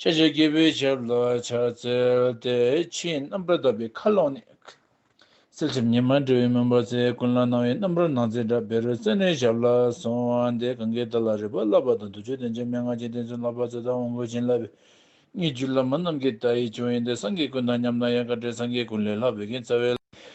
ཤེས་བྱའི་སྐྱེས་བུའི་ཆབ་ལ་ཕྱག་འཚལ་ཏེ་ཕྱིའི་རྣམ་པར་དག་པའི་མཁའ་ཀློང་ནས། གསལ་བྱེད་ཉི་མ་འབྲས་བུའི་མུན་པ་ཚེ་ཀུན་ལ་སྣང་བའི་རྣམ་རོལ་སྣང་མཛད་སྒྲ་བེ་རོའི་རྩེ་ནས་ཞབས་ལ་སོང་བ་འདི་གངྒཱའི་རྟ་ལ་རེག་པར་བསླབ་པ་དང་དུར་ཁྲོད་བསྟན་བྱའི་མན་ངག་ཅན་བསྟན་བཅོས་བསླབ་པ་རྩེ་དང་དབང་བསྐུར་བྱིན་བརླབ་པའི་སྙིགས་རྒྱུད་བླ་མ་རྣམས་ཀྱི་བརྡ་ཡི་ཆུང་ཡིན་ཏེ་སངས་རྒྱས་ཀུན་དང་མཉམ་ན་ཡང་དཀའ་བྲལ་སངས་རྒྱས་ཀུན་ལས་ལྷག་བོད་རྒན་རྩ་བའི།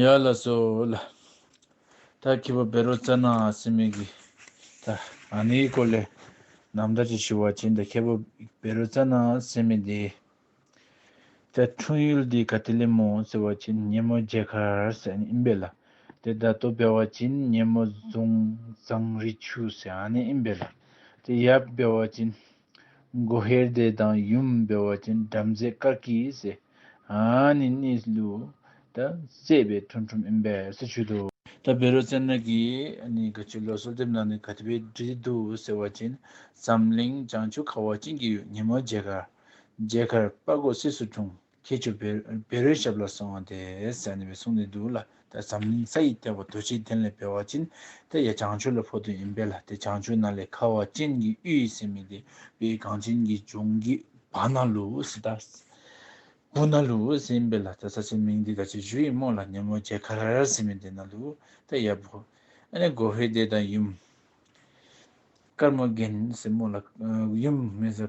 ཡར་ལ་གསོལ། ད་ཁྱི་བོ་བེ་རོ་ཙེ་ན་སི་མི་གི། ད་ཨ་ནི་ཡི་ཀོ་ལེ། ནམ་ད་ཅི་ཞུ་བ་བྱིན་ད་ཁྱི་བོ་བེ་རོ་ཙེ་ན་སི་མི་དེ། ད་འཁྲུངས་ཡུལ་དེ་ག་ཏི་ལི་མོ་ཟེར་བ་བྱིན་ཉེ་མོ་རྒྱལ་ཁར་ཟེར་ཨིན་བེ་ལ། དེ་ད་དོ་བེ་བ་བྱིན་ཉེ་མོ་རྫོང་ཟངས་རི་ཆུ་ཟེར་ཨ་ནི་ཨིན་བེ་ལ། དེ་ཡབ་བེ་བ་བྱིན། མགོ་ཧེར་སྡེ་དང་ཡུམ་སྦེ་བ་ཅན་བྲམ་ཟེ་དཀར་སྐྱིད་སེ་ཧན་ནི་གནས་ལུས་ད་བཙས་པའི་ཐུན་ཁྲོམ་ཨིན་པས་སུ་ཆུད་དོ། ད་བེ་རོ་ཙན་ནག་གིས་ནི་ག་ཆུ་ལོ་སོལ་དེབ་ནང་ནས་ག་ཏི་བའི་དྲི་དེ་འདུག་ཟེར་བ་ཅན་འཛམ་གླིང་བྱང་ཆུབ་ཁ་བ་ཅན་གྱི་ཉིན་མོ་མཇལ་ཁར་མཇལ་ཁར་དཔའ་རྒོད་སིད་སུ་འཁྲུངས། ཁྱེད་ཆུ་བེད་རོའི་ཞབས་ལ་སོང་བ་དེ་ཟེར་ནས་བའི་གསུང་ནས་འདུག་ལ་ད་འཛམ་གླིང་ས་ཡི་ལྟེ་བ་རྡོ་རྗེའི་གདན་ལས་འབེལ་བ་ཅན་དེ་ཡ་བྱང་ཆུ་ལ་ཕོ་དོན་ཡིན་པས་ལ་དེ་བྱང་ཆུ་ན་ལས་ཁ་བ་ཅན་གྱི་གཡུ་ཡི་སེམས་མི་དེ་བའི་གངས་ཅན་གྱི་ལྗོངས་ཀྱི་བ་ན་ལུ་ཟི་ད་བུ་ན་ལུ་ཟི་ཡིན་པས་ལ་ད་ས་ཆའི་མིང་དེ་ད་ཆའི་ཇུ་ཡིས་རྨོ་ལ་ནེ་མོ་རྗེ་ཁ་ར་ར་ཟི་མི་དེ་ན་ལུ་ད་ཡ་བུ་ཨ་ནེ་གོ་བྷེ་དེ་ད་ཡུམ་དཀར་མོ་རྒན་ཟི་རྨོ་ལ་ཡུམ་མི་ཟ་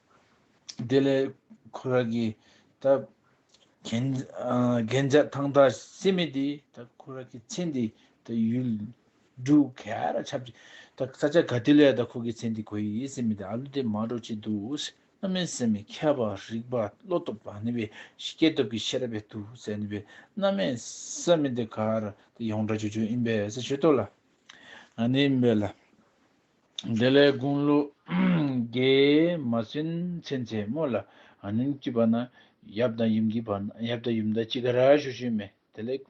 དེ་ལས་ཁོ་རང་གི་ད་གན་གན་རྒྱ་ཐང་ད་སེ་མེ་དེ་ད་ཁོ་རང་གི་མཚན་དེ་ད་ཡུལ་འབྲུ་ག་ར་ཆབ་ཅི་ད་ས་ཆ་ག་དེ་ལས་ད་ཁོ་གི་མཚན་དེ་གོ་ཡི་སེ་མེ་དེ་ཨ་ལུ་དེ་མ་འགྲོ་ཅི་འདུག་སེ་ཨ་མའི་སེ་མེ་མཁས་པ་རིག་པ་བློ་སྟོབས་དང་ནི་བའི་སྐྱེ་སྟོབས་ཀྱི་ཤེས་རབ་བས་འདུག་སེ་ནི་བའི་ཨ་མའི་སེ་མེ་དེ་ག་ར་དེ་ཡོངས་གྲགས་ཆོས་ཆོས་ཨིན་པས་སེ་ཆོས་ཏོ་ལ་ཨ་ནི་ཨིན་པས་ལ། དེ་ལས་དགུང་ལོ་བརྒྱད་མ་ཟིན་ཚེ་མཚན་མོ་ལ་ཨ་ནེ་སྐྱིད་པ་ན་ཡབ་དང་ཡུམ་གྱི་བར་ན་ཡབ་དང་ཡུམ་དག་ཅི་ག་ར་ཞུ་ཞུས་མེད་དེ་ལས་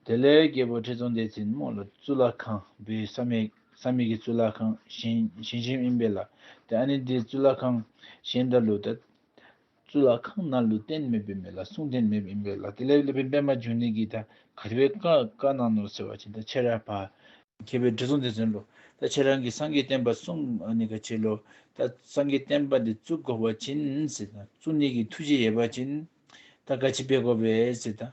དེ་ལས་རྒྱལ་པོ་ཁྲི་སྲོང་ལྡེ་བཙན་མོ་ལ་གཙུག་ལག་ཁང་བའི་ས་མེད་ས་མེད་ཀྱི་གཙུག་ལག་ཁང་གཞན་གཞན་གཞན་ཨིན་པའི་ལ་དེ་ཨ་ནེ་འདི་གཙུག་ལག་ཁང་གཞན་འདྲ་ལུགས་ད་གཙུག་ལག་ཁང་རྣམས་ལུས་རྟེན་མེད་པའི་མི་ལ་གསུང་རྟེན་མེད་པའི་མི་ལ་དེ་ལས་སློབ་པའི་པད་མ་འབྱུང་གནས་ཀྱི་ཐ་གར་བའི་བཀའ་བཀའ་གནང་ནོ་ཟེར་བ་ཅན་དང་ཕྱི་རབས་པ། མཁས་པའི་དྲི་བཟང་དེ་ཟིན་ལོ། ད་ཁྱེད་རང་གིས་སངས་རྒྱས་བསྟན་པ་གསུང་ནས་ག་བྱེད་ལོ། ད་སངས་རྒྱས་བསྟན་པ་འདི་གཙུག་གོ་བ་ཅན་ཟེར་དང་གཙུག་གནས་ཀྱི་ཐུགས་རྗེ་ཡལ་བ་ཅན། ད་ག་བྱེད་པས་གོ་བས་ཟེར་དང།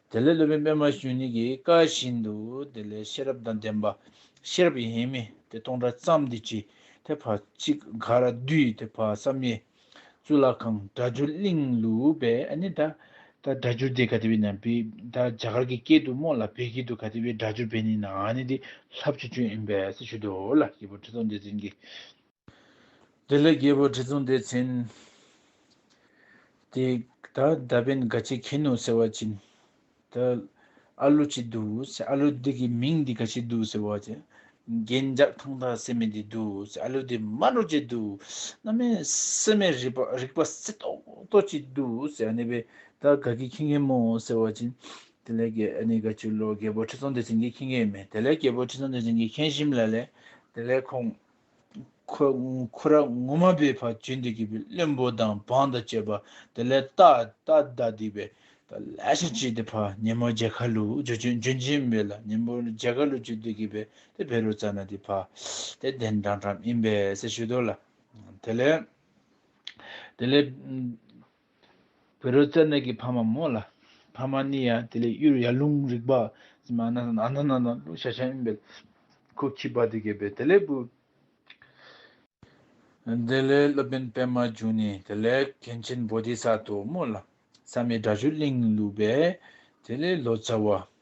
དེ་ལས་ལུས་མེད་པད་མ་གཞོན་ནུ་ཡི་བཀའ་བཞིན་དུ་དེ་ལས་ཤེས་རབ་དང་ལྡན་པ་ཤེས་རབ་ཡིན་མིན་དེ་སྟོང་ཕྲག་བརྩམས་འདི་ཅི་དེ་བར་གཅིག་ག་ར་བསྡུས་དེ་བར་བསམ་ཡས་གཙུག་ལག་ཁང་སྒྲ་སྒྱུར་གླིང་ལུས་པས་ཨ་ནི་ད་ད་སྒྲ་སྒྱུར་དེ་ག་དེ་བས་ན་བི་ད་རྒྱ་གར་གྱི་སྐད་དུ་སྨོས་ལ་བལ་སྐད་དུ་ག་དེ་བས་སྒྲ་སྒྱུར་བས་ནི་ན་ཨ་ནི་འདི་ལྷ་བཅུ་བཅུ་ཡིན་པས་སྲི་ཞུ་དོ་ལ་ཡི་བུ་ཁྲི་སྟོང་འདི་འཛིན་གྱི། འདི་ལས་རྒྱལ་པོ་ཁྲི་སྲོང་ལྡེ་བཙན། དེ་ད་ད་པན་དགའ་ཆེ་ཁེན་ནོ་ཟེར་བ་བྱིན། ད་ཨ་ལོ་ཅི་འདུག་ཟེར་ཨ་ལོ་དེ་གི་མིང་འདི་ག་ཆེ་འདུག་ཟེར་བ་བྱིན། རྒྱན་འཇག་ཐང་དག་སེ་མེ་འདི་འདུག་ཟེར་ཨ་ལོ་དེ་མ་རོ་ཅི་འདུག་སྣ་མའི་སེ་མེ་རིག་པ་རིག་པ་སེ་ཏོག་ཏོག་ཅི་འདུག་ཟེར་ཨ་ནེ་པན་ད་དགའ་གི་ཁེན་གེ་མོ་ཟེར་བ་བྱིན། དེ་ལས་ཀྱི་ཨ་ནེ་དགའ་ཆུ་ལོ་རྒྱལ་པོ་ཁྲི་སྲོང་ལྡེ་བཙན་གི་ཁེན་གེ་མེ་དེ་ལས་རྒྱལ་པོ་ཁྲི་སྲོང་ལྡེ་བཙན་གི་ཁེན་ཤིམ་ལ་ལས་དེ་ལས་ཁོང། ཁོ་ར་ངོ་མ་པའི་བར་བྱེད་འདི་གི་པའི་བློན་པོ་དང་འབངས་དང་བཅས་པ་དེ་ལས་རྟ་རྟ་རྡ་སྡིག་པའི་ལས་ཤིག་བྱས་ཏེ་ཕ་ཉེ་མོ་རྗེ་ཁ་ལུ་འཇོན་ཆེན་པའི་ལ་ཉེ་མོ་རྗེ་ཁ་ལུ་བྱེད་འདི་གི་པའི་དེ་བེ་རུ་ཙ་ན་དེ་ཕ་དེ་གདན་དྲངས་གྲབས་ཡིན་པས་སེ་ཞུ་དོ་ལ་དེ་ལས་དེ་ལས་བོད་རོལ་རྩེད་གནས་ཀྱི་ཕ་མ་མོ་ལ་ཕ་མ་གཉིས་ཡང་དེ་ལས་གཡུར་ཡར་ལུང་རིག་པ་ཟིན་པ་ནང་ན་ནང་ན་ལུང་ཤ་ཆེན་ཡིན་པས་ཁུ་བྱུག་པ་དེ་གས་པས་དེ་ལས་བུ། དེ་ལས་སློབ་དཔོན་པད་མ་བྱུང་ནས་དེ་ལས་མཁན་ཆེན་པོ་ཏི་ས་ཐོ་མོ་ལ་བསམ་ཡས་དགྲ་བཅོས་གླིང་བསླུས་པས་དེ་ལས་ལོ་ཙཱ་བ་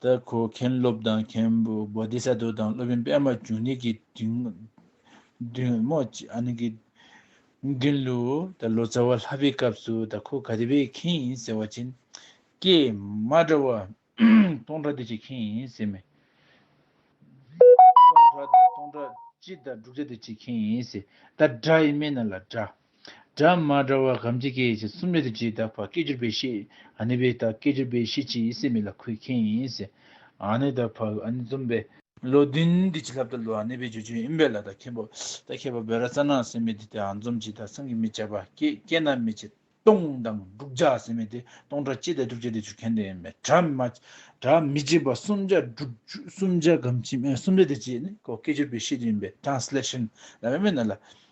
ལྟར་གོ། མཁན་སློབ་དང་མཁན་པོ་བོ་དྷི་ས་ཏུ་དང་སློབ་དཔོན་པདྨ་འབྱུང་གནས་ཀྱི་མདུན་མདུན་ལུ། ལོ་ཙཱ་བ་ལྷ་པའི་སྐབས་སུ་ད་ཁོ་ག་དེ་པའི་མཁན་ཡིན་ཟེར་བ་ཅན། ཀྱེ་མ་གྲྭ་བ། སྟོང་གྲྭ་དེ་ཅིའི་མཁན་ཡིན་ཟེར་མི། སྟོང་གྲྭ་དང་སྟོང་གྲྭ་སྤྱི་དང་འབྲུག་གྲྭ་དེ་ཅིའི་མཁན་ཡིན་ཟེར། ད་གྲྭ་ཡིན་མིན་ན་ལ་གྲྭ། སྒྲ་མ་འདྲ་བ་གམ་ཅི་སྐད་ཅིག་གསུམ་ལས་དེ་ཇི་ལྟ་བ་སྐད་ཅིག་པའི་ཤེས་ཨ་ནི་བས་ལྟ་སྐད་ཅིག་པའི་ཤེས་ཅི་ཡིས་སེམས་མེད་ལ་ཁུད་མཁན་ཡིན་སེམས་ཨ་ནི་ལྟ་བ་ཨ་ནི་རྩོམ་པའི། བློ་བདུན་འདི་ཇི་ལྟ་བ་བློ་ཨ་ནི་བས་བརྗོད་བྱའི་ཨིན་བས་ལ་ལྟ་མཁན་པོ་ལྟ་མཁས་པ་བས་ར་རྩ་ན་སེམས་མེད་དེ་ལྟའི་ཨ་རྩོམ་ཇི་ལྟར་སངས་ཀྱི་མི་བྱ་བ་སྐད་སྐད་ན་མི་བྱེད་སྟོང་དང་དྲུག་བྱ་སེམས་མེད་དེ་སྟོང་སྒྲ་ཅི་ལྟར་དྲུག་བྱེད་དེ་བརྗོད་མཁན་དེ་མེད་སྒྲ་མ་སྒྲ་མི་བྱེད་པ་གསུམ་བྱ་དྲུག་གསུམ་བྱ་གམ་ཅི་སུམ་ལས་དེ་ཇི་ནི་གོ་སྐད་ཅིག་པའི་ཤེས་ཅི་ཡིན་པའི Translation ལ་མེད་མེད་ན་ལ་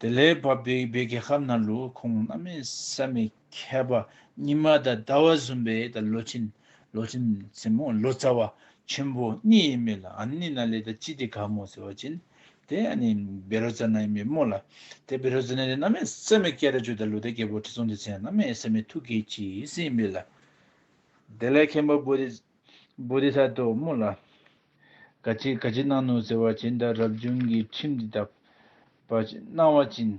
དེ་ལས་བབས་པའི་བད་ཀན་ཧབ་ན་ལུ་གུ་ཁོང་རྣམས་མེད་ས་མི་ཁ་བ་ཉི་མ་དང་ཟླ་བ་གསུམ་པའི་དང་ལོ་ཆེན་ལོ་ཆེན་མཚན་མོ་ལོ་ཙཱ་བ་ཆེན་པོ་གཉིས་ཡས་མས་ལ་ཨན་ནི་ན་ལེ་ད་ཅི་དེ་ག་མོ་ཟེར་བ་ཅན་དེ་ཨན་ནི་བེ་རོ་ཙཱ་ན་ཡས་མས་མོ་ལ་དེ་བེ་རོ་ཙཱ་ན་ལེ་ན་མེད་ས་མི་ཀ་ར་ཅོ་ད་ལུ་ད་སྐྱེ་བོ་ཁྲི་སྲོང་ལྡེ་བཙན་རྣམས་མེད་ས་མི་ཐུགས་ཀྱི་ཅི་ཟིན་མེད་ལ་དེ་ལས་མཁན་པོ་བོ་དེ་བོ་དེ་ས་དོ་མོ་ལ། དགའ་བྱེད་དགའ་བྱེད་གནང་ནོ་ཟེར་བ་བྱིན་དང་རབ་བྱུང་གི་ཁྲིམས་འདི་དག། པར་བྱེད་གནང་བ་བྱིན་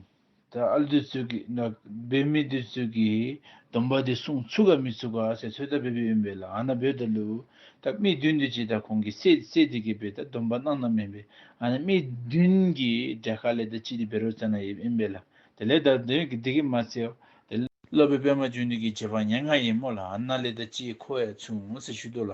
དང་ཨ་བདུད་ཚུལ་གྱིས་འགག་འབད་མི་བདུད་ཚུལ་གྱིས་སྡོམ་པ་དེ་སྲུང་ཚུགས་ག་མི་ཚུགས་ག་ཟེར་ཚོད་ལྟ་འབད་པས་དབེན་པའི་ལ་ཨ་ན་འབོད་དང་ལུས་དང་དམིགས་བདུན་འདུས་བྱས་དང་གོང་གི་སྲས་སྲས་དེ་གའི་འབད་དང་སྡོམ་པ་གནང་ན་མིན་པས་ཨ་ན་དམིགས་བདུན་གྱི་སྒྲས་ག་ལས་དང་ཅི་དེ་འབད་རོགས་བཙལ་ན་ཡིན་དབེན་པའི་ལ་དེ་ལས་དང་དེ་གས་མ་བཙལ་དེ་སློབ་པའི་པད་མ་བཅུ་འདུས་ཀྱི་བྱེད་པ་ངན་ངག་ཡིན་མོད་ལ་ཨ་ན་ལས་དང་ཅི་ཁོ་བས་མཚུངས་ཟེར་ཞུས་དོ་ལ།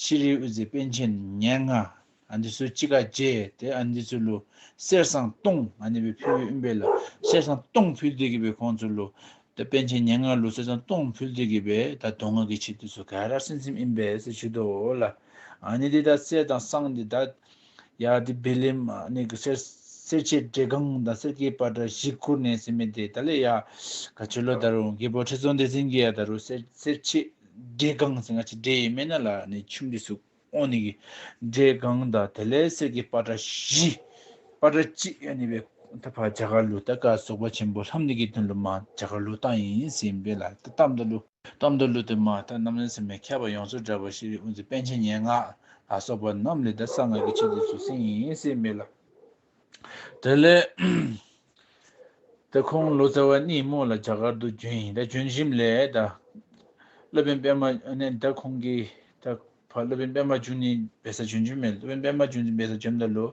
ཤི་ལིའི་དབུས་རྩེ་དཔོན་ཆེན་ཉེར་ལྔ། འདི་ཚོའི་སྤྱི་བཀའ་བརྒྱད་དེ། འདི་ཚོའི་ལོ། གསེར་སྲང་སྟོང། འདི་པའི་ཕུལ་བུས་དབུས་འབེལ། གསེར་སྲང་སྟོང་ཕུལ་དུས་གྱི་པའི་ཁོང་ཚོའི་ལོ། དཔོན་ཆེན་ཉེར་ལྔ་ལོ་གསེར་སྲང་སྟོང་ཕུལ་དུས་ཀྱི་པའི་ད་དོ་ང་གི་ཕྱི་དུས་སུ་ག་ར་སེམས་སེམས་དབུས་འབེལ་སེ་ཆུ་དོ་ལ། འདི་དག་གསེར་དང་སྲང་འདི་དག། ཡ་དེ་བེ་ལེམ་གནས་ཀྱི་སེར་སེར་བྱེད་བྲེ་སྒང་དང་སེར་སྐྱའི་པ་ཏྲ་བཞི་བསྐུར་ནས་ཟིན་མེད་དེ་ད་ལས་ཡ་ག་བྱོད་ལོ་ད་རུང་རྒས་པོ་ཁྲི་ཚོ་འདི་ཟིན་གྱི་ཡ་ད་རུང་སེར་སེར་བྱེད་བྲེ་སྒང་ཟིན་ག་ཅི་བྲེ་ཡི་སྨན་སྣ་ལ་ནས་ཆུང་དུས་སུ་ཨོང་ནས་གི་བྲེ་སྒང་དང་དེ་ལས་སེར་སྐྱའི་པ་ཏྲ་བཞི་པ་ཏྲ་གཅིག་ཡ་ནས་བས་ད་བར་བྱ་ག་ལུ་ད་ག་སོག་པ་ཆེན་པོ་ལྷམ་ནས་གི་དོན་ལུ་མ་བྱ་ག་ལུ་ཏང་ཡིན་ཟིན་བེ་ལ་ད་གཏམ་ད་ལུ། གཏམ་དང་གླུ་དང་མ་དང་རྣམ་ལེན་ཟེར་མི་ཁྱབ་པ་ཡོངས་སུ་བསྒྲགས་པ་ཤེས་རིག་དབུ་འཛིན་པཎ་ཆེན་སྙན་ངག་ལ་སོགས་པ་རྣམས་ལས་ད་གསང་སྔགས་ཀྱི་ཆེད་དུ་བཟོ་ཟིན་ཡིན་སྲིད་མོད་ལ། དེ་ལས། ད་ཁོང་ལོ་ཙཱ་བ་གཉིས་མོ་ལ་རྒྱ་གར་དུ་བྱོན་ཡིན་ད་བྱོན་བཞིན་ལས་ད། སློབ་དཔོན་པདྨ་ནས་ད་ཁོང་གིས་ད་བར་སློབ་དཔོན་པདྨ་འབྱུང་གནས་འབེལ་ས་བྱོན་རྒྱུ་མེད། སློབ་དཔོན་པདྨ་འབྱུང་གནས་འབེལ་ས་བྱོན་མདའ་ལུ།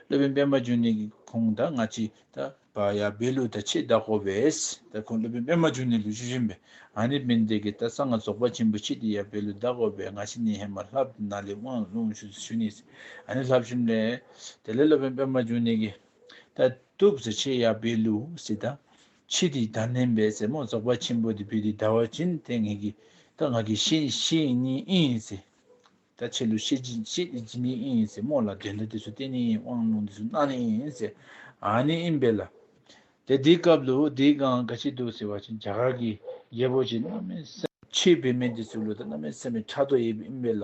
སློབ་དཔོན་པདྨ་འབྱུང་གནས་ཀྱི་ཁོང་དང་སྔ་ཕྱི་ད་བ་ཡ་བེ་ལུ་ད་ཆེས་བདག་གོ་བས། ད་ཁོང་སློབ་དཔོན་པདྨ་འབྱུང་གནས་ལུས་ཆུ་བཞིན་པས་ཨ་ནི་བན་དེ་གི་ད་གསང་སྔགས་རྫོགས་པ་ཆེན་པོ་ཆེ་དེ་ཡ་བེ་ལུ་བདག་གོ་བས་སྔ་ཕྱི་ནི་ཧེ་མ་ལྷ་བདུད་ནཱ་ལེ་དབང་ལུང་ཞུ་ས་ཞུ་ནི་ཟེར་ཨ་ནི་ལྷ་བཞིན་པས། དེ་ལས་སློབ་དཔོན་པདྨ་འབྱུང་གནས་ཀྱི་ད་དུག་ཟེར་ཆེས་ཡ་བེ་ལུ་ཟེར་ད་ཕྱིས་དེའི་བདག་མནན་པའི་རྩེ་མོར་རྫོགས་པ་ཆེན་པོ་དེ་བུད་དེ་ཟླ་བ་བྱིན་ཏེ་ངེད་ཀྱི་རྟགས་ང་གི་ཤེས་བྱེད་ཡིན་ནི་ཨེ་ཡིན་ཚེ། ད་ཕྱི་ལོ་ཤེས་བྱེད་ཤེས་བྱེད་ཅི་ནི་ཨེ་ཡིན་ཚེ་སྨོས་ལ་དོན་དུ་དེ་སུ་སྟེ་ནི་ཨེ་དབང་ལུང་དེ་སུ་གནང་ནི་ཨེ་ཡིན་ཚེ་ཨཱ་ནི་ཨིན་བེ་ལ། དེ་དེའི་སྐབས་ལོ་དེའི་གང་ག་ཅིག་འདུག་ཟེར་བ་ཅན་རྒྱ་གར་གྱི་རྒྱལ་པོ་ཅིག་གནའ་མའི་སེམས། ཕྱིས་བོད་མི་འདི་ཚོའི་ལོ་དང་གནའ་མའི་སེམས་པའི་ཕྲག་དོག་ཡོད་པ་ཨིན་བེ་ལ།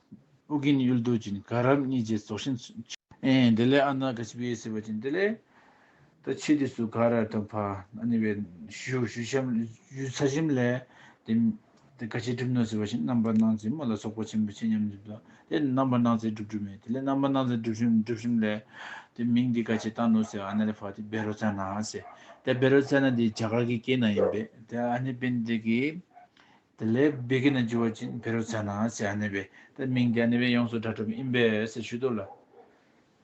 ཨུ་རྒྱན་གཡུལ་རྡོ་རྗེ་ནི་ག་རབས་གཉིས་རྗེ་རྫོགས་ཤིང་མཆོད། དེ་ལས་ཨ་ནག་གི་ཕྱི་པའི་སྲིད་པ་ཅན་དེ་ལས། ད་ཕྱིས་དུས་སུ་ག་ར་དང་བྷ་ནི་བའི་ཞུ་བཞུགས་ཚར་གཞིམ་ལས། དེ་ག་ཕྱིས་གྲུབ་ནོ་ཟེར་བ་བཞིན་རྣམ་པར་སྣང་མཛད་མོ་ལ་སོགས་པ་ཆེན་པོ་ཆེ་མཉམ་སྦྱིན་དང་དེ་རྣམ་པར་སྣང་མཛད་སྒྲུབ་སྒྲུབ་མེད་དེ་ལས་རྣམ་པར་སྣང་མཛད་སྒྲུབ་བཞུགས་ལས། དེ་མིང་འདི་ག་ཕྱིས་བཏགས་ནོ་ཟེར་ཨ་ནལ་བྷ་དེ་བེ་རོ་ཙཱ་ན་ཟེར། དེ་བེ་རོ་ཙཱ་ན་དེ་རྒྱ་གར་གྱི་སྐད་ན་ཡིན་པས་དེ་ཨ་ནི་པན་དེ་གའི་དེ་ལས་སྦི་གི་ན་ཇུ་བ་ཅིན་ཕེ་རོ་ཚ་ན་སི་ཨ་ནེ་བའི་ཏི་མིང་དེ་ཨ་ནེ་བའི་ཡོངས་སུ་གྲ་གྲུབ་ཨིན་པས་སེ་ཞུས་དོ་ལ།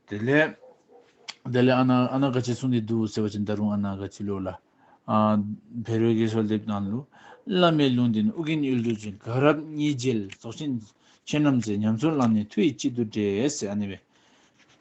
དེ་ལས། དེ་ལས་ཨ་ན་ཨ་ན་ག་ཅི་སུང་དེ་འདུག་ཟེར་བ་ཅིན་ད་རུང་ཨ་ན་ག་ཅི་ལོ་ལ། ཕེ་རོའི་གེ་སོ་ལེབ་ནང་ལུ། བླ་མའི་ལུང་དེ་ནི་ཨུ་གིན་ཨུལ་ཏུ་ཅིན་ག་རབ་གཉིས་རྗེས་ལ་རྫོགས་ཆེན་ཁྱེད་རྣམས་ཚེ་ཉམས་ཚོད་བླངས་ནས་མཐུ་ཡི་དཔྱིད་དུ་བྲེས་སེ་ཨ་ནེ་བའི།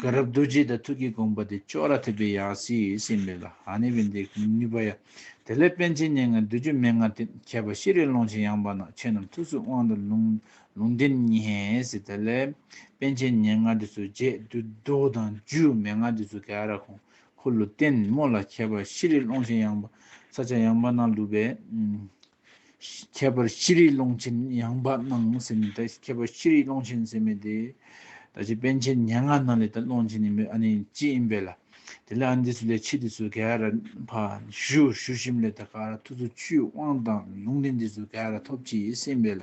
དགའ་རབ་རྡོ་རྗེའི་དང་ཐུགས་ཀྱི་དགོངས་པ་དེ་ཅོག་ར་ཐེབས་པའི་ཡང་སྲིད་སྲིད་མེད་ལ་ཧ་ནི་བི་འདི་ནུས་པ་ཡ། དེ་ལས་དཔལ་ཆེན་སྙན་ངག་བདུད་རྒྱུད་མན་ངག་དེ་ཁྱད་པར་ཤེས་རིག་ཀློང་ཆེན་ཡངས་པ་ནགས་ཁྱེད་རྣམས་ཐུགས་སུ་དབང་དང་ལུང་ལུང་བསྟན་ངེས། དེ་ལས་དཔལ་ཆེན་སྙན་ངག་འདི་ཚོ་རྗེ་བདུད་རྡོ་དང་རྒྱུད་མན་ངག་འདི་ཚོ་དགའ་ར་ཁོང་འཁོར་ལོ་བརྟན་མོ་ལ་ཁྱད་པར་ཤེས་རིག་ཀློང་ཆེན་ཡངས་པ་ས་ཆ་ཡངས་པ་ན་ལུས་པའི། ཁྱད་པར་ཅི་རིགས་ཀློང་ཆེན་ཡངས་པ་སྣང་སེམས་མེད་དེ་ཁྱད་པར་ཅི་རིགས་ཀློང་ཆེན་སེམས་མེད་དེ། ད་ཅི་དཔལ་ཆེན་སྙན་དངགས་སྣང་ལས་དང་ཀློང་ཆེན་ཡིན་པས་ཨ་ནི་ཅི་ཡིན་པས་ལ། དེ་ལ་ཨ་འདི་སུ་ལས་ཕྱི་འདི་སུ་ག་ར་བ་ཞུ་ཞུ་ཤིམ་ལས་ད་ག་ར་ཐུགས་སུ་ཆུད་དབང་དང་ལུང་འདི་འདི་སུ་ག་ར་ཐོབ་ཅི་ཡིས་སེམས་པས་ལ།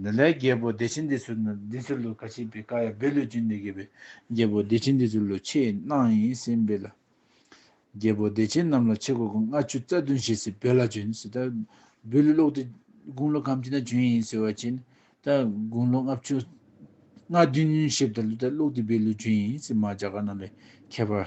འདི་ལས་རྒྱལ་པོ་བདེ་ཆེན་འདི་ཚུལ་ནི་འདི་ཚུལ་ལོ་ཁ་ཆེ་པའི་ཀ་ཡ་བེ་ལོས་ཀྱིས་འདི་དགེ་བའི་རྒྱལ་པོ་བདེ་ཆེན་འདི་ཚུལ་ལོ་ཆེས་གནང་ཡིན་སྲིད་འབོད་ལ། རྒྱལ་པོ་བདེ་ཆེན་རྣམས་ལ་ཆེ་གོ་གུང་ལྔ་བཅུ་རྩ་བདུན་བྱས་སྲིད་འབོད་ལ་བྱོན་སྲིད་ད་འབོད་ལུས་ཀློག་དེ་དགུང་ལོ་གམ་གྱི་ན་བྱོན་ཡིན་ཟེར་བ་བྱས་ནས་ད་དགུང་ལོ་ལྔ་བཅུ་ལྔ་བདུན་བྱས་པ་ད་ལུས་ད་ཀློག་དེ་འབོད་ལུས་བྱོན་ཡིན་སྲིད་མ་བྱ་ག་རྣམས་ལས་ཁྱད་པར།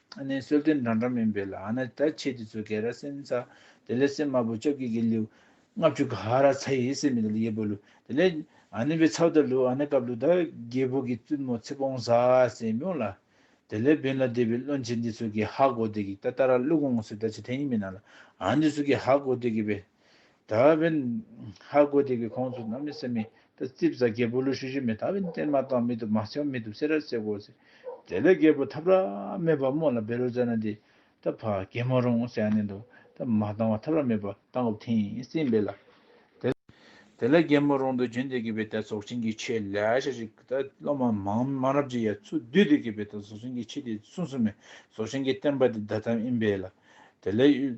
ཨ་ནེ་གསོལ་སྟོན་འདྲ་འདྲ་མིན་པའི་ལ་ཨ་ན་ད་ཆེ་དེ་ཚོ་གེ་ར་སེན་ཚ་དེ་ལེ་སེ་མ་བུ་ཅོ་གེ་གེ་ལིའུ་ལྔ་བཅུ་ག་ར་ཚ་ཡེ་སེ་མི་ད་ལི་ཡེ་བོ་ལུ་དེ་ལེ་ཨ་ནེ་བའི་ཚ་བ་ད་ལུ་ཨ་ན་ཀ་བླུ་ད་རྒྱལ་བོ་གེ་བཙུན་མོ་ཚེ་བོང་ཟ་སེ་མོ་ལ་དེ་ལེ་བེན་ལ་དེ་བའི་བློན་ཆེ་འདི་ཚོ་གེ་ཧ་གོ་དེ་གེ་ད་ད་ར་བླུ་གོང་སེ་ད་ཆེ་དེ་ཡིན་མི་ན་ལ་ཨ་འདི་ཚོ་གེ་ཧ་གོ་དེ་གེ་བེ། ད་བིན་ཧ་གོ་དེ་གི་ཁོང་ཚོ་ནམ་མི་སེ་མི་ད་རྩིབ་བཟའ་རྒད་པོ་ལུ་ཤུ་ཤུ་མི་ད་བིན་ཏན་མ་ཏང་མི་དུ་མ་ཆེ་བ་མི་དུ་སེ་ར་སེ་གོ་སེ་དེ་ལས་རྒད་པོ་ཐབ་ར་མེད་པ་མོ་ལ་བེ་རུ་བཟའ་ན་དེ་ད་ཕ་གེ་མོ་རུང་སེ་ཨ་ནེ་འདུག་ད་མ་ཏང་བ་ཐབ་ར་མེད་པ་ཏང་གོ་ཐིན་སིན་བེ་ལ་དེ་ལས་གེ་མོ་རུང་དུ་རྒྱུན་དེ་གི་བེ་ད་ཟོག་ཆེན་གི་ཆེ་ལ་ཤ་ཤི་གི་ད་སློ་མ་མང་མང་རབ་ཅི་ཡ་ཚུ་དུས་དེ་གི་བེ་ད་ཟོག་ཆེན་གི་ཆེ་དེ་སུན་སུན་མེ་ཟོག་ཆེན་གི་ཏན་པ་དེ་ད་ཐམ་ཨིན་བེ་ལ་དེ་ལས་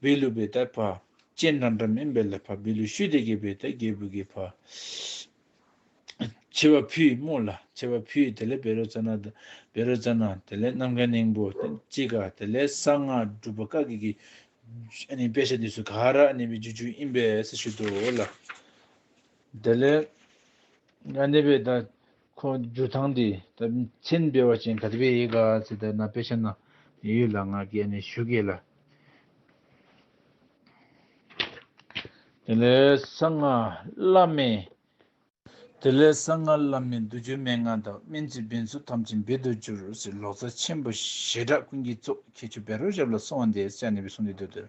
བི་ལུ་བི་ཏའི་བ་ཅན་འདྲ་འདྲ་མིན་པའི་ལ་བ་བི་ལུ་ཤུ་དེ་གའི་བི་ཏའི་རྒྱལ་པོའི་གི་བ། བྱེ་བ་བུའི་སྨུག་ལ་བྱེ་བ་བུའི་དེ་ལས་བེ་རོ་ཙཱ་ན་དང་བེ་རོ་ཙཱ་ན་དེ་ལས་ནམ་མཁའི་སྙིང་པོ་གཅིག་ག་དེ་ལས་གསང་སྔགས་སྒྲུབ་པ་ཀ་གི་གི་དཔེ་བྱད་དུས་སུ་ག་ར་ནི་བི་ཇུ་ཇུ་ཨིན་པས་སུ་ཞུ་དོ་ལ། དེ་ལས་ང་ནི་བི་ཏའི། ཁོང་རྒྱུ་ཐང་དེ་དག་མཚན་དཔེ་བ་ཅན་ག་དུ་བེ་ཡེ་ག་ཚེ་དར་ན་དཔེ་ཆ་ན་ཡོད་ལ་ང་གས་ནས་ཞུ་གས་ལ། དེ་ལས་གསང་སྔགས་བླ་མེད། དེ་ལས་གསང་སྔགས་བླ་མེད་འདུ་འགྱུར་མན་ངག་དང་སྨན་རྩིས་འབེལ་ཚུལ་ཐམས་ཅད་འབེལ་དུ་གྱུར་ཟེར་ལོག་རྩ་ཆེན་པོ་ཞེ་དྲག་ཀུན་གྱི་གཙོ་ཁྱེད་ཆུ་བེ་རོ་ཞབས་ལ་སོང་བ་འདས་ས་ནས་བུ་སོང་དེ་དུས་དེར་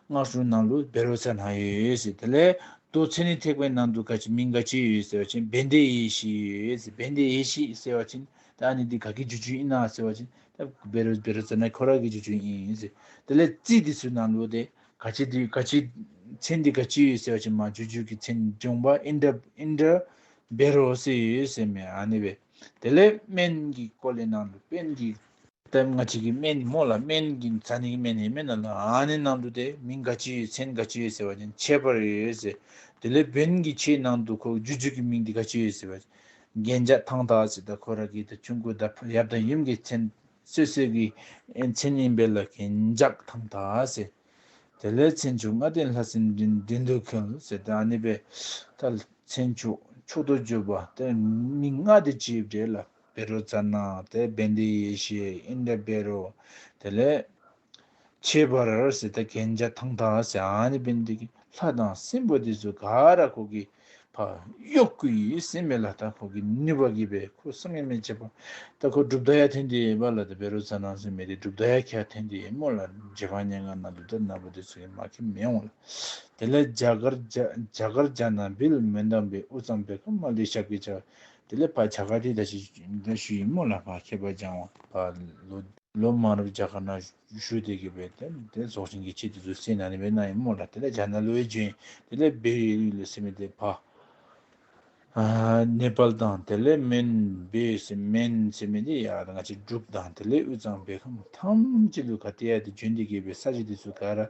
སྔགས་ཞུ་ནང་ལུགས་སྦེ་རོ་ཚ་ནང་ཡོད་ཡོད་ཟེར་དེ་ལས་ལྡོ་ཚེ་ནི་ཐེག་པའི་ནང་དུ་ག་ཅི་མིང་ག་ཅི་ཡོད་ཟེར་བ་བཞིན་བན་དེ་ཡེ་ཤི་ཡོད་ཡོད་ཟེར་བན་དེ་ཡེ་ཤི་ཟེར་བ་བཞིན་དེ་ཨ་ནི་འདི་ག་གི་རྗུ་ཆུ་ཡིན་ན་ཟེར་བ་བཞིན་དེ་སྦེ་རོ་སྦེ་རོ་ཚ་ནི་ཁོ་རང་གི་རྗུ་ཆུ་ཡིན་ཟེར་དེ་ལས་རྩིས་འདི་ཚོའི་ནང་ལུགས་དེ་ག་ཅི་འདི་ག་ཅི་མཚན་འདི་ག་ཅི་ཡོད་ཟེར་བ་བཞིན་མ་རྗུ་ཆུ་གི་མཚན་འབྱུང་བ་ཨིན་དྲ་ཨིན་དྲ་སྦེ་རོ་ཟེར་ཡོད་ཡོད་ཟེར་མེད་ཨ་ནི་བས་དེ་ལས་སྨན་གྱི་སྐོར་ལས་ནང་ལུགས་བན་གྱི། པདྨ་ལྔ་གཅིག་གི་སྨན་ནི་མོ་ལ་སྨན་གྱི་ཛཱ་ནི་གི་སྨན་ནི་སྨན་རྣམས་ལ་ཨཱ་ནི་ནང་དུ་སྟེ་མིང་འགའ་ཅི་ཡོད་ཚན་འགའ་ཅི་ཡོད་ཟེར་བ་ནི་འཆད་པར་ཡོད་ཟེར། དེ་ལས་བོན་གྱི་ཆའི་ནང་དུ་ཁོ་རྒྱུ་རྒྱུད་ཀྱི་མིང་འདི་ག་ཅི་ཡོད་ཟེར་བ། རྒྱན་འཇག་ཐང་དག་ཅེས་དང་ཁོ་ར་གི་དང་ཁྱུང་གོས་དང་ཡབ་དང་ཡུམ་གྱི་མཚན་སོད་སོད་ཀྱི་མཚན་ཡིན་པས་ལ་རྒྱན་འཇག་ཐང་དག་ཟེར། དེ་ལས་མཚན་ཕྱུག་ལྔ་ལྡན་ལྷ་སྲིན་བདུད་འདུལ་ཁེལ་ཟེར་ཏེ་ཨཱ་ནི་པདྨ་མཚན་ཕྱུག་ཕྱུག་ཏུ་བརྗོད་པ་དེ་མིང་ལྔ་དེ་ཅི་ཡོད་དྲིས་ལ། བེ་རོ་ཙར་ན་དེ་བན་དེའི་ཡེ་ཤེས་ཨིན་དྲ་བེ་རོ། དེ་ལས། ཁྱད་པར་སི་ཏཱ་གན་རྒྱ་ཐང་ཐ་སི་ཨན་ནི་བན་དེ་གི་ལྷ་དང་སྲིན་པོ་དེ་ཚོ་ག་ར་ཁོ་གི་བ་གཡོག་གུ་ཡིས་སྲིན་མེ་ལ་ད་ཁོ་གི་ནུས་པ་གི་བས་ཁོ་སྲིན་མེ་མེ་བྱེད་པ་ད་ཁོ་སྒྲུབ་ད་ཡ་ཐེན་དེ་བ་ལ་དེ་བེ་རོ་ཙར་ན་སྲིན་མེ་དེ་སྒྲུབ་ད་ཡ་ཁྱ་ཐེན་དེ་མོ་ལ་རྗེ་བ་ཉེ་ང་ན་དུ་ད་ན་བ་དེ་ཚོ་གི་མ་ཁེ་མེ་འོང་ལ། དེ་ལས་རྒྱ་གར་རྒྱ་གར་རྒྱ་ན་བིལ་མེ་འདམ་བི་ཨུ་ཙམ་བེ་ཀ་མ་ལི་ཤབ་གི་ཅག་དེ་ལས་བར་བྱ་ཁ་དེ་ད་ཞིག་འདྲ་ཞུ་ཡིན་མོ་ལ་བར་ཁྱད་པར་སྦྱང་བ། བ་ལོ། ལོ་དམར་རུ་བྱ་ཁ་ན་ཞུ་དེ་གི་བས་དེ་དེ་རྫོགས་ཆེན་གི་ཆེད་དུ་བཟོད་སྲེད་ན་ནི་བས་ན་ཡིན་མོ་ལ་དེ་ལས་བྱ་ན་ལོའི་རྒྱུན་དེ་ལས་བས་ཡོད་ཡོད་ལས་སེ་མེ་དེ་བ། ནེ་པལ་དང་དེ་ལས་མན་བས་ཡོད་སེ་མན་སེ་མེ་དེ་ཡར་ང་ཅི་འགྲུབ་དང་དེ་ལས་དབུས་གཙང་བས་ཁམས་ཐམས་ཅད་ལུས་ཁ་དེ་ཡ་དེ་རྒྱུན་དེ་གི་བས་ས་གཞི་དེ་ཚུ་ག་ར་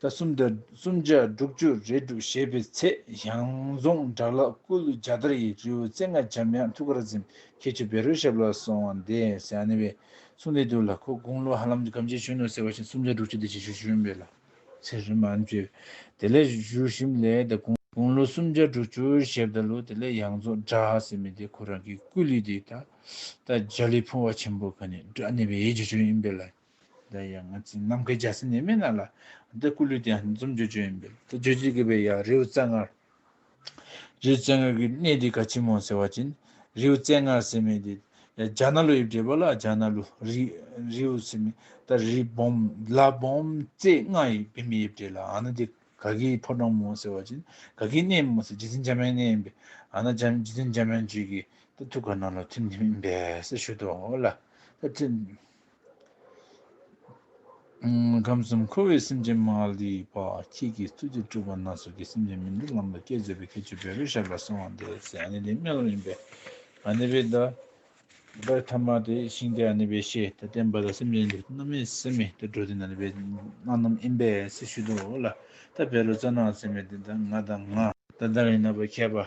ཟླ་གསུམ་དུ་གསུམ་ཆ་དྲུག་བཅུ་རེ་སྒྲུབ་བཞེས་པའི་ཚེ་ཞང་རྫོང་དགྲ་ལག་སྐུ་ལུས་རྒྱ་དར་ཡི་རི་བོའི་རྩེ་ལྔ་འཇམ་དབྱངས་ཐུགས་ཀར་འཛིན་མཁས་ཆུ་བེ་རོའི་ཞབས་ལ་སོང་བ་འདས་ཟིན་ཨ་ནེ་བའི་གསུང་ལས་དུ་ལ་ཁོ་དགུང་ལོ་ཧ་ལམ་གྱི་གམ་ཆེན་གཞོན་ནུ་ཟེར་བ་བཞིན་གསུམ་ཆ་དྲུག་བཅུ་དེ་ཆེ་ཤོས་གཞོན་པའི་ལག་ཚེ་རིང་བ་ཨང་བཅོས་དེ་ལས་བཞུགས་ཞིམ་ལས་དང་དགུང་ལོ་གསུམ་ཆ་དྲུག་བཅུར་ཞབས་ད་ལོ་དེ་ལས་ཡང་རྫོགས་གྲ་ཟེར་མི་དེ་ཁོ་རང་གི་སྐུ་ལུས་དེ་ད་ལྟ་རྗ་ལི་ཕུང་བ་ཆེན་པོ་ག་ནི་སྒྲུ་ཨ་ནེ་བའི་ཡེ་རྗེ་བྱོན་ཡིན་པས་ལ་འདི་ཡང་ང་ཚོའི་ནམ་མཁའི་རྒྱལ་སྲས་ནད་མེད་རྣམས་ལ། འདི་སྐུ་ལུས་དེ་ཡང་འཛུམ་བརྗོད་བྱོན་ཡིན་པས། དེ་བརྗོད་བྱེད་དགོས་པས་ཡང་རེའུ་རྩེ་ལྔར། རེའུ་རྩེ་ལྔར་གྱི་གནས་དེ་ག་ཆེན་མོ་ཟེར་བ་བཅིངས། རེའུ་རྩེ་ལྔར་ཟེར་མེད་དེ། རྒྱ་ནག་ལོ་དབྱིབས་འདྲེས་པ་ལ་རྒྱ་ནག་ལོ། རེའུ་ཟེར་མེད་ད། རི་བོང། ལ་བོང། རྩེ་ལྔ་ཡི་བི་མ་དབྱིབས་འདྲེས་ལ་ཨ་ན་དེ་ག་གི་ཕོ་བྲང་མོ་ཟེར་བ་བཅིངས། ག་གི་གནས་མོ་ཟེར་རྗེ་བཙུན་འཇམ་དབྱངས་གནས་ཡིན་པས་ཨ་ན་འཇམ་རྗེ་བཙུན་འཇམ་དབྱངས་ཆོས་ཀྱི། ད་ཐུགས་ཀ་ནང་ལ་ཐིམ་ཐིམ་ཡིན་པས་ཟེར་ཞུ་དོ་ལ། ད་ཐིམ། ཁམས་གསུམ་འཁོར་བའི་སེམས་ཅན་མ་ལུས་པ་ཁྱེད་ཀྱི་ཐུགས་རྗེ་སྤྲུལ་པ་སྣ་ཚོགས་ཀྱི་སེམས་ཅན་མི་འདོད་ལམ་ལ་སྐྱེལ་མཛད་པའི་ཁྱད་ཆོས་འབད་པའི་ཞབས་ལ་གསོལ་བ་འདེབས། ཚེ་ཨ་ནེ་ལས་སྨན་སློབ་ཡིན་པས་ཨ་ནེ་པའི་བདག། བདག་ཐ་མ་དེ་ཤིང་རྟའི་ཨ་ནེ་པའི་ཤེས་ད་བསྟན་པ་ལ་སེམས་ཅན་འདི་སྣོད་མེད་སེམས་མེད་དུད་འགྲོ་དེ་ན་ནི་པའི་སྣ་ནམ་ཨིན་པས་སྲི་ཞུ་དུ་ལ་ད་བེ་ལོ་རྩ་ནག་སེམས་མེད་དེ་ད་ང་ད་ང། ད་ད་རིང་ན་པ་མཁས་པ།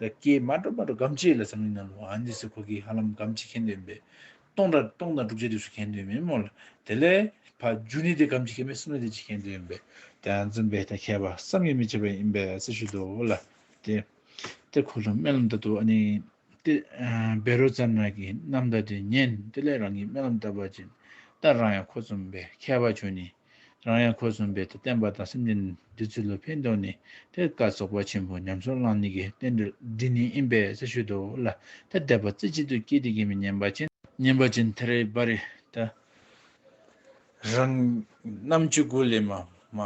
ད་ཀྱེ་མ་འགྲོ་མ་འགྲོ་སྒམ་ཆེ་ལ་བསམ་གླིང་ན་ལོ་ཨ་ནི་སི་ཁོ་ཀི་ཧ་ལམ་སྒམ་ཆེ་ཁེན་འདོད་ཡིན་པས། སྟོང་དང་སྟོང་དང་དྲུག་ཆ་དུས་སུ་ཁེན་འདོད་མིན་མོ་ལ། དེ་ལས། ཕ་རྒྱུ་ནི་དེ་སྒམ་ཆེ་ཁེན་པས་སུམ་ལ་དེ་ཆེ་ཁེན་འདོད་ཡིན་པས། དེ་ཨ་འཛོམ་པས་ད་མཁས་པ་བསམ་ཡས་མི་བྱེད་པ་ཡིན་པས་སེ་ཞུ་དོ་ལ། དེ། དེ་ཁོ་ལོ་སྨན་ལམ་བཏབ་ཏུ་ཨ་ནི། དེ། བེ་རོ་ཙམ་རང་གིས་ནམ་ཟླ་དེ་ཉན་དེ་ལས་རང་གིས་སྨན་ལམ་བཏབ་པ་བྱིན། ད་རང་ཡང་ཁོ་འཛོམ་པས་མཁས་པ་ཁྱོད་ནི། རང་ཡང་ཁོས་གསུངས་པའི་དེ་བསྟན་པ་དང་སེམས་ཅན་འདི་ཚུལ་ལ་ཕན་འདོགས་ནས་དེར་བཀའ་རྫོགས་པ་ཆེན་པོ་ཉམས་སུ་བླངས་ནས་ཀྱི་རྟེན་འབྲེལ་འདི་ནི་ཡིན་པས་ས་ཤུལ་དུ་བླ་དེར་བསྡད་པ་རྩེ་གཅིག་ཏུ་སྐྱེས་ཏེ་སྐྱེས་མི་ཉན་པ་ཅན། ཉན་པ་ཅན་དེར་བ་རི་ད་རང་རྣམ་ཆོས་སྐུ་ལས་མ་མ་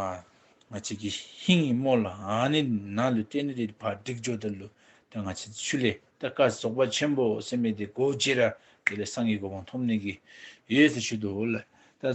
ང་ཅིག་གིས་ཧིན་ཡིག་སྨོས་ལ་ཨ་ནི་ན་ལུས་རྟེན་འབྲེལ་དེ་བར་འགྲིག་འཇོག་དེར་ལུས་དེ་ང་ཆེ་ཆུ་ལས་དེར་བཀའ་རྫོགས་པ་ཆེན་པོ་སེམས་མེད་དེ་གོ་བྱེད་ར་དེ་ལས་སངས་ཀྱི་གོ་འཕང་ཐོབ་ནས་ཀྱི་ཡོད་ས་ཤུལ་དུ་བླ་དེར་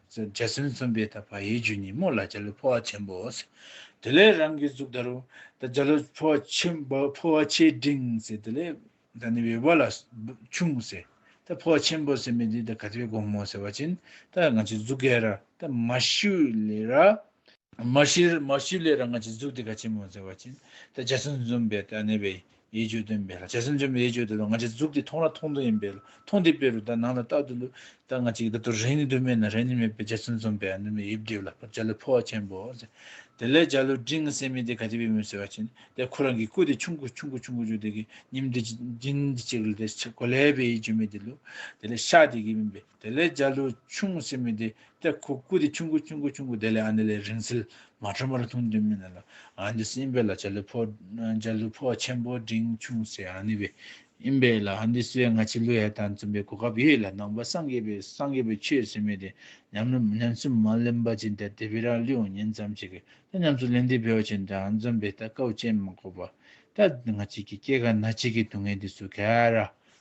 འཇའ་ཚོན་མཚོན་པའི་ད་བ་ཡའི་རྒྱུ་ཉིན་མོ་ལ་འཇའ་ལུས་འཕོ་བ་ཆེན་པོ། དེ་ལས་རང་གི་གཟུགས་ད་རུང། ད་འཇའ་ལུས་འཕོ་བ་ཆེན་པོ་འཕོ་བ་ཆེ་འབྲིང། དེ་ལས་ད་ནི་བའི་བ་ལ་ཆུང། ད་འཕོ་བ་ཆེན་པོ་ཟེར་མི་དེ་ད་ག་དེ་བའི་དགོང་མོ་ཟེར་བ་བཞིན་ད་ང་ཚོའི་གཟུགས་ག་ར་ད་མ་ཤུ་ལེ་ར། མ་ཤུ་ལེ་ར་ང་ཚོའི་གཟུགས་དེ་ག་ཆེན་མོ་ཟེར་བ་བཞིན་ད་འཇའ་ཚོན་མཚོན་པའི་ད་ནི་བའི་ཡེ་བརྗོད་དོན་མེད་ལ་རྗེ་བཙུན་ཆེན་པོ་ཡེ་བརྗོད་དེ་དང་ང་ཅིག་གཟུགས་འདི་མཐོང་ལ་མཐོང་དོན་ཡིན་པས་ལ་མཐོང་འདི་དཔེ་རུ་ད་ནང་ལ་རྟག་ཏུ་ལུས་ད་ང་ཅིག་ད་དུ་རེ་ནི་དུ་མེད་ན་རེ་ནི་མེད་པས་རྗེ་བཙུན་འཛོམ་པའི་ཨ་ནུ་མའི་དབྱིབས་བསྒྲིབས་ལ་བར་བྱ་ལུས་འཕོ་བ་ཆེན་པོ་དེ་ལས་བྱ་ལུས་འབྲིང་ངེ་སེམས་མི་དེ་ག་དེ་བས་མོས་ཟེར་བ་བྱིན་ནས་དེ་ཁོ་རང་གི་སྐུ་དེ་ཆུང་གུ་ཆུང་གུ་ཆུང་གུ་བརྗོད་དེ་གི་ཉིམ་འདི་ཅིག་འདི་ཅིག་ལ་དེ་གོ་ལའི་བས་ཡིད་བརྗོད་མེད་དེ་ལུས་དེ་ལས་ཤ་དེ་གི་མིན་པས་དེ་ལས་འཇའ་ལུས་ཆུང་སྲིད་མི་དེ་སྟེ་ཁོ་སྐུ་དེ་ཆུང་སྐུ་ཆུང་སྐུ་ཆུང་སྐུ་དེ་ལས་ཨ་ནི་ལས་རིང་ཚིལ་མ་ཁྲོ་མར་འཐུང་དུས་མི་ནི་ལ་ཨ་འདི་སྲིད་ཨིན་པའི་ལ་འཇའ་ལུས་ཕོ་འཇའ་ལུས་ཕོ་ཆེན་པོ་འབྲིང་ཆུང་སྲིད་ཨ་ནི་བའི་ཨིན་པའི་ལ་ཨ་འདི་སྲིད་བའི་སྔ་ཕྱི་ལུས་ཧད་དང་འཛུམ་པའི་གོ་སྐབས་ཡོད་ལ་ནང་པ་སངས་རྒྱས་པའི་སངས་རྒྱས་པའི་ཆོས་སྲིད་མི་དེ་ཉམས་སུ་མ་ལེན་པ་ཅི་འདྲ་དེ་བི་རག་ལུས་འོང་ཉིན་ཙམ་ཞིག་གི་ད་ཉམས་སུ་ལེན་དུས་བི་བ་ཅི་འདྲ་ཨང་འཛུམ་པའི་ལྟ་སྐབས་ཅན་མ་གོ་བ་ད་ང་གཅིག་གི་སྐྱེ་རྒ་ན་གཅིག་གི་སྡུག་བསྔལ་འདི་སུ་ག་ར